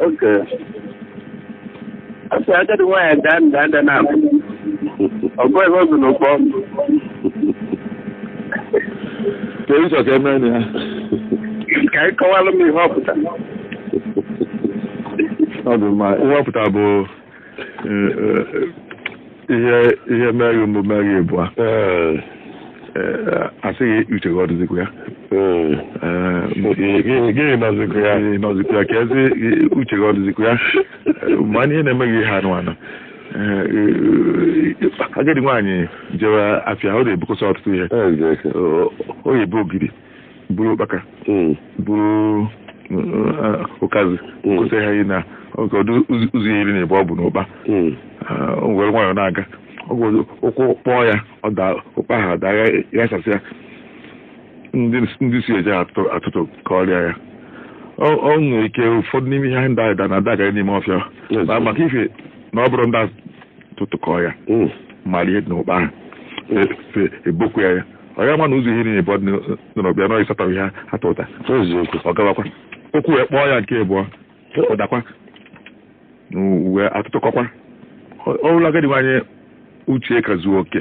Okay ọ sị agadi nwaanyị daa nda ada naabọ a gụọ ihe o bu n'ụkpa ọnụ ka ị chọ ka e mee na ya ka ị kọwalụ m ihe ọ pụtara ọ dị mma ihe ọ pụtara bụ ihe ihe mee gị mbụ mee gị ịbụa a sị gị uche gị ọ dịzikwa ya gị nọzikwa ya nọzikwa ya ka a sị uche gị ọ dịzikwa ya ma ihe na-eme gị ihe anụ anụ agadi nwaanyị jewe afịa ọ na-ebukọsị ọtụtụ ihe ọ ya-ebu ogiri buru ụkpaka Mm. buru eh, ụkazị Mm. kwụsị ha na ọ ga-adị ụzọ- ụzọ iri na ịbụọ o bu n'ụkpa Mm. Ah, o were nwayọọ na-aga ọ gwọzi ụkwụ kpọọ ya ọ daa ụkpa ahụ adaa yasasịa ndị ndị si eje atụ atụtụkọrị ya ọ ọ nwere ike ụfọdụ n'ime ihe ndị ahụ na-adaga n'ime ọfịa Yes. Ma- maka ife na ọ bụrụ ndị a- tụtụkọọ ya Mm. mara ihe dị n'ụkpa ahụ e- e- ebopụ ya ya ọ ya-ama na ụzọ iri na ịbụọ o bu n'ọbịa nọ ịsatọ ihe ha tụta eziokwu ọ gawakwa ụkwụ wee kpọọ ya nke abụọ ọ dakwa wee atụtụkọkwa ọ bụrụ agadi nwaanyị uche ka zuo oke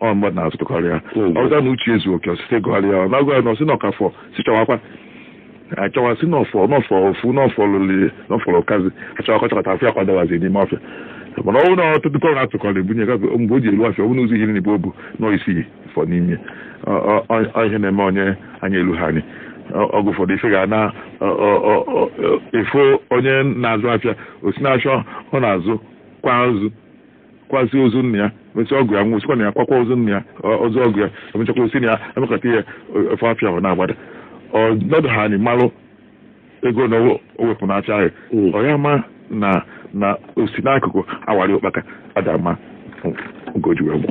ọ mmadụ na-atụtụkọrị ya Hmm. ọzọ na uche ezu oke ọ sị gụgharịa ya a na-agụ ya na ọ sị na ọ ka fọ sị chọwakwa achọwa sị na ọ fọ na ọ fọ ofu na ọ fọ lụli na ọ fọ ụkazị achọwakwa chọkọta afọ ya kwadawazi n'ime ọfịa mana ọ bụrụ na a tụtụkọrọ atụkọrọ ebunye gafe mgbe o ji elu afịa ọ bụrụ na ụzọ iri na ịbụọ o bu nọ isii fọ n'ime Ọ- ọ- ọ- ọ ihe na-eme onye anya elu ha anyị Ọ- ọgụ ụfọdụ ife ga na ọ- ọ- ọ- ọ- ọ- efu onye na-azụ afịa ọ sị na-achọ ọ na-azụ kwa azụ kwasịa ozu nna ya mesịa ọgọ ya nwụsịkwa nna ya kwakwa ozu nna ya ozu ọgọ ya emechakwa ọ sị na ya emekọta ihe ofe afịa ahụ na-agbada ọ nọdụ ha anyị malụ ego na o wepụ n'afịa ahụ ọ ya-ama na na o si n'akụkụ awara ụkpaka adama ugoji wee gwụ